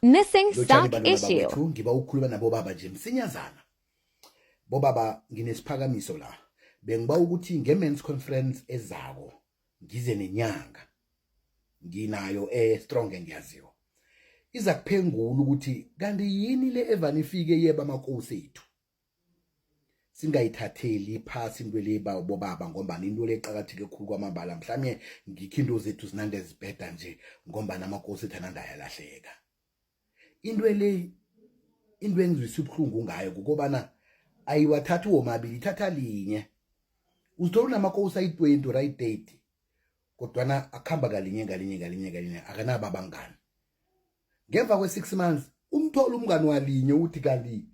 Missing stock issue. Ngiba ukukhuluma nabo baba nje msinyazana. Bobaba nginesiphakamiso la. Bengiba ukuthi nge men's conference ezako ngize nenyanga. Nginayo e strong engiyaziwa. Iza kuphengula ukuthi kanti yini le evani ifike yeba amakosi ethu. singayithatheli phasi into le bobaba ngombana into le eqakatheke khulu kwamambala mhlawumbe ngikho into zethu zinande zibheda nje ngombana amakosi ethu anande ayalahleka into le into engizwisa ubuhlungu ngayo kukobana ayiwathathi womabili ithatha linye uzithola unamakosi ayi-twenty or ayi-thirty kodwana akuhamba kalinye ngalinye ngalinye ngalinye akanabo abangani ngemva kwe-6 months umthola umngani walinye uthi kanti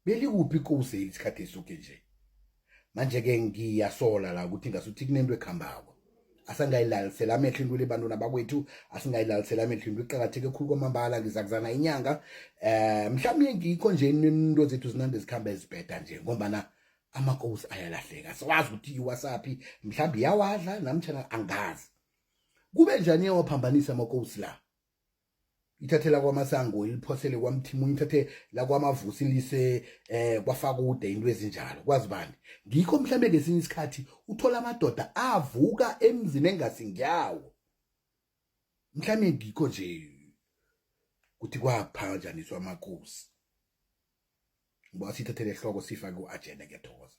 belikuphi ikosi isikhathi esuke nje manje-ke ngiyasola la ukuthi ngasuthi kunento ekhambako asangayilalisela amehlo into lebantwini abakwethu asingayilalisela amehlo into iqakatheke khulu kwamambala ngizakuzana inyanga eh mhlawumbe ngikho nje into zethu zinande zikhamba ezibheda nje ngombana amakosi ayalahleka siwazi ukuthi iwasaphi mhlawumbe iyawadla namtshana angazi kube njani iyawaphambanisa amakosi la ithathe lakwamasango iliphosele kwamthimunye ithathe lakwamavusi lise eh kwafakude into ezinjalo kwazi bani ngikho mhlambe ngesinye isikhathi uthola amadoda avuka emzini engasingiyawo mhlambe ngikho nje kuthi kwaphanjaniswa amakosi ngoba sithathele ehloko sifake u-agenda ngiyathokoza